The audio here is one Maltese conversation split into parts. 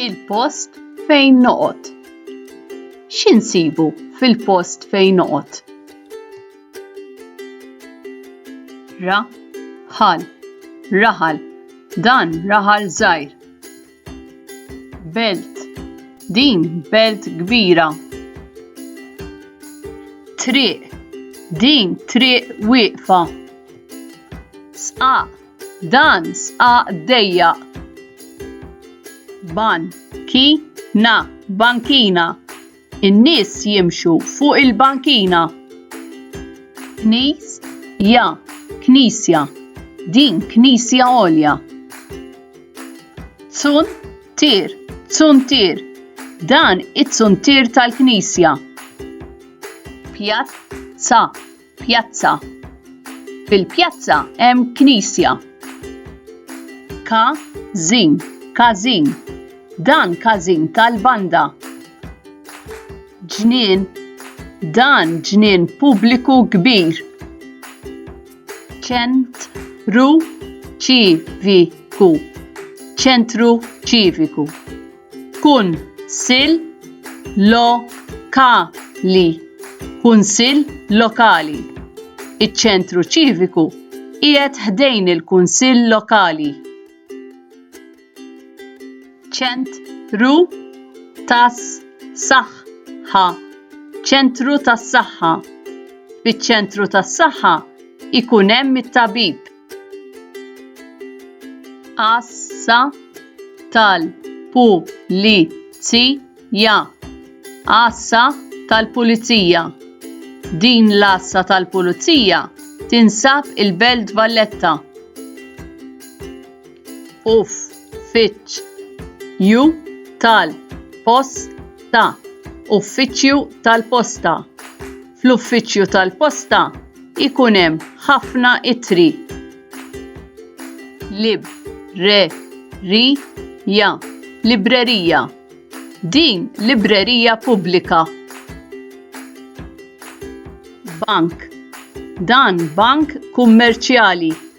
Il-post fejn noqgħod. X'insibu fil-post fejn noqgħod? Ra, ħal, raħal, dan raħal żgħir. Belt. Din belt kbira. Triq. Din triq wieqfa. Sqaq. Dan sqaq dejjaq. Ban. Ki. Na. Bankina. In-nies jimxu fuq il-bankina. Knis, ja, knisja. Din knisja għolja. Tsun, tir, tsun tir. Dan it-tsun tir tal-knisja. Pjazza, Pjazza. Fil-pjazza hemm knisja. Ka zin, każin. Dan każin tal-banda. Ġnien. Dan ġnien pubbliku kbir. Ċent ru ċiviku. Ċentru ċiviku. Kun sil lo ka li Kunsill Lokali Iċ-Ċentru Ċiviku qiegħed ħdejn il-Kunsill Lokali. Ċent ru tas saħħ ħa Ċentru tas-Saħħa Fiċ-Ċentru tas-Saħħa ikun hemm it-tabib Assa tal-pulizija. Assa tal-pulizija. Din l-assa tal-pulizija tinsab il-Belt Valletta. Uff, fitx, ju tal-posta. Uffiċċju tal-posta. fl-uffiċċju tal-posta ikun hemm ħafna ittri. Lib, re, ri, ja, librerija. Din librerija pubblika. Bank. Dan bank kummerċjali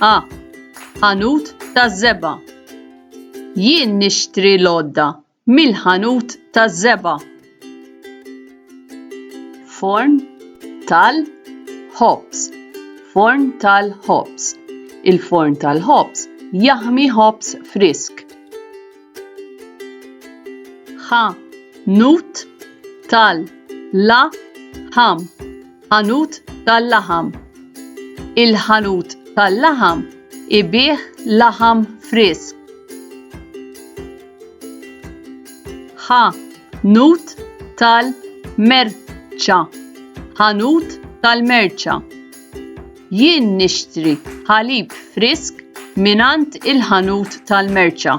A. Ħanut taż-żebgħa. Jien nixtri l-għodda mill-ħanut taż-żebgħa. Forn tal-ħobż. Forn tal-ħobż. Il-forn tal-ħobż jaħmi ħobż frisk. Ħanut tal-laħam. ħanut tal-laħam. Il-ħanut tal-laħam ibigħ laħam frisk. Ħa nut tal-merċa. Ħanut tal-merċa. Jien nixtri ħalib frisk minant il-ħanut tal-merċa.